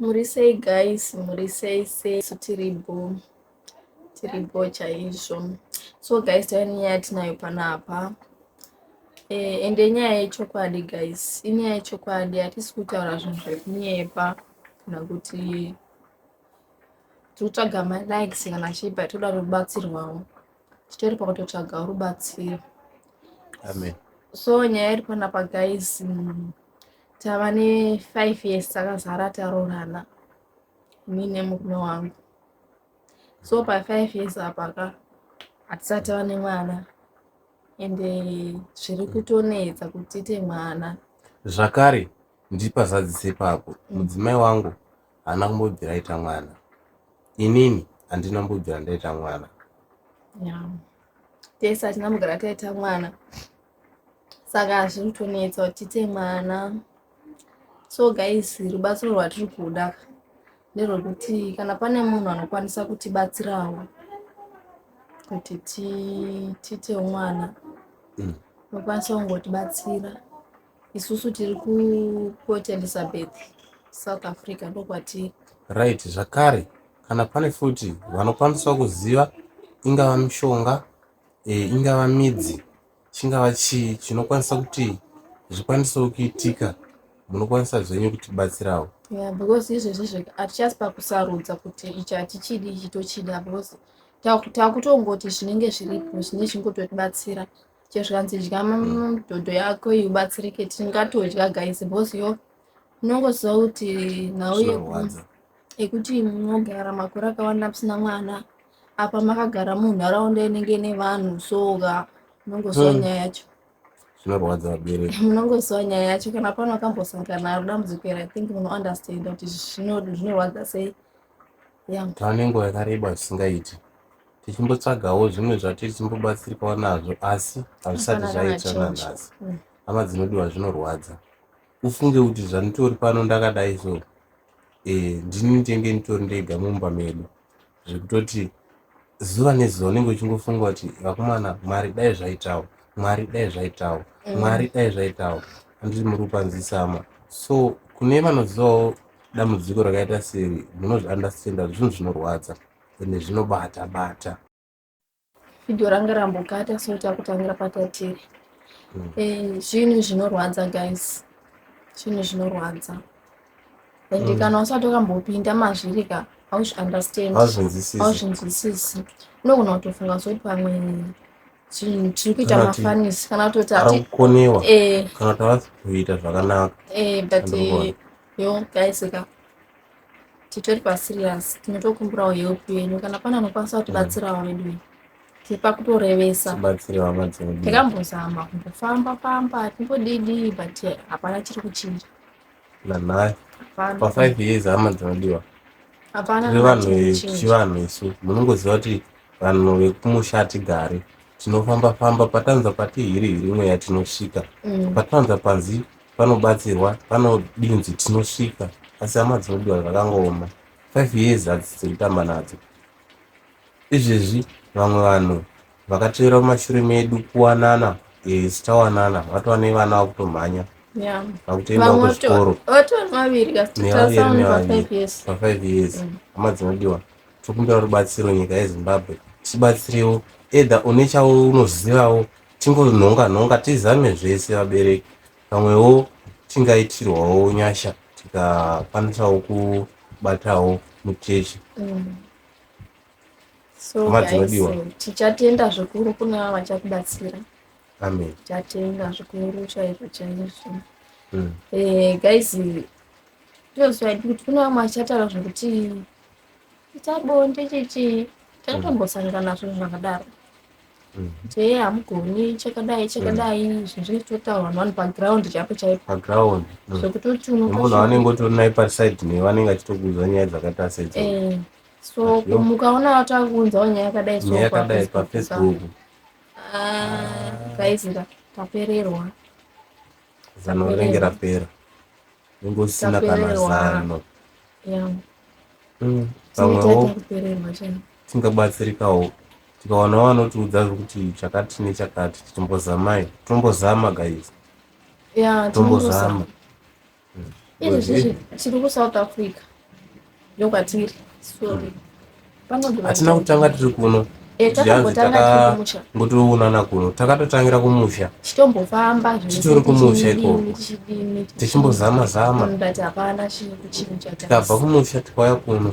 Muri sei guys, muri sei sei, isu tiri bho, tiri bho chaizvo. So guys, tave nenyaya yatinayo panapa eh, ende nyaya yechokwadi guys, inyaya yechokwadi, hatisi kutaura zvinhu zvekunyepa kana kuti tikutsvaga malikes kana chii but toda rubatsirwawo, titori pakutotsvaga rubatsiro. Amen. So nyaya iri panapa guys, mm, tava nefive years takazara taroorana ini nemurume wangu so pafive years apa ka hatisati tava nemwana ende eh, zviri kutonetsa kuti tiite mwana zvakare ndipazadzise papo mm. mudzimai wangu haana kumbobvira aita mwana inini handina mbobvira ndaita mwana tese hatina mugara taita mwana saka zviri kutonetsa kuti tiite mwana so guys rubatsiro rwatiri kuda nerwekuti kana pane munhu anokwanisa kutibatsirawo kuti tiite mwana mm. nokwanisa kungotibatsira isusu tiri kuport elizabeth south africa ndokwatiri right zvakare kana pane futi vanokwanisawo kuziva ingava mishonga ingava midzi chingava chii chinokwanisa kuti zvikwanisewo kuitika munokwanisa zvenyu kutibatsirawo yeah, because izvezvi zvega hatichasi pakusarudza kuti ichi hatichidi ichi tochida because takutongoti zvinenge zviripo zvine zvingototibatsira chezvikanzi dya dhodho yako iubatsirike tingatodya guys because yo unongoziva kuti nhau yekuti mogara makore akawanda musina mwana apa makagara munharaunda inenge ine vanhu soka munongoziva hmm. nyaya yacho zvinorwadza vabereki munongoziva nyaya yacho kana pano akambosangana naro dambudziko iri i think munounderstanda kuti zvinorwadza sei tane nguva yakareba zvisingaiti tichimbotsvagawo zvimwe zvatiri timbobatsirikawo nazvo asi hazvisati zvaita nanhasi hmm. hama dzinodiwa zvinorwadza ufunge kuti zvanditori pano ndakadai so eh, ndini ndenge nditori ndega mumba medu zvekutoti zuva nezuva unenge uchingofunga kuti vakomana mwari dai zvaitawo mwari dai zvaitawo mm. mwari dai zvaitawo anditi muri kupanzisama so kune vanozivawo dambudziko rakaita seri munozviandastenda zvinhu zvinorwadza ende zvinobata bata Video ranga rambokata so takutangira patatiri. Mm. Eh, zvinhu zvinorwadza guys. Zvinhu zvinorwadza. And mm. kana usati wakambopinda mazviri ka hauzvi understand. Hauzvinzwisisi. Hauzvinzwisisi. Unogona kutofunga kuti pamwe zvinhu tiri kuita mafanisi kana kutoti arikukonewa eh. kana kuti havasi kuita zvakanaka. Eh, but eh, yo guys ka. titori paserious tinotokumbirawo help yenyu kana pane anokwanisa kutibatsirawo mm. vedu tipa kutorevesa tikambozama kumbofamba famba timbodidii but hapana chiri kuchinja nanhai pafive years hama dzinodiwa tiri vanhu vechivanhu isu munongoziva kuti vanhu vekumusha hatigari tinofamba famba patanza pati hiri hiri mweya tinosvika mm. patanza panzi vanobatsirwa vanodinzi tinosvika asi hama dzinodiwa zvakangooma five years hadzisi dzekutamba nadzo izvezvi vamwe vanhu vakatevera mumashure medu kuwanana yes tawanana vatova nevana vakutomhanya Yeah. vakutoenda Vamwe vato- kuzvikoro vatova vaviri kasi Nevaviri, tatarisana nevaviri. nevafive years pafive years Mm. hama dzinodiwa tokumbira rubatsiro nyika yezimbabwe tibatsirewo edha une chaunozivawo Tingonhonga nhonga tizame zvese vabereki pamwewo tingaitirwawo nyasha tikakwanisawo kubatawo muchechi mm. so guys tichatenda zvikuru kune vava vachakubatsira amen tichatenda zvikuru chaizvo chaizvo mm. eh, guys tozwaidi kuti kune vamwe vachataura zvekuti ita bonde chichii takatombosangana zvinhu zvakadaro chee hamugoni chakadai chakadai mm. zvinhu zvinenge zvitotaurwa vanhu vanhu paground chaipo chaipo paground mm. zvekutoti unomunhu anenge otori naye paside newe anenge achitokuudza nyaya dzakaita sedzo eh, so mukaona vati akuunzawo nyaya yakadai nyaya yakadai pafacebook ah, guys tapererwa zano rinenge rapera unenge usina kana zano mm, pamwewo tingabatsirikawo tikawana wanotiudza zvekuti chakati nechakati timbozamai tombozama guys tombozama izvezvi tiri kusouth africa ndokwatiri sorry panogona hatina kuto- kutanga tiri kuno Eh, zviyanzi takambotanga tiri kumusha takangotoonana kuno takatotangira kumusha chitombofamba zvese Titori kumusha tichidini, ikoko. tichidini, tichimbozama zama Mm, but hapana chi- kuchinja guys. tikabva kumusha tikauya kuno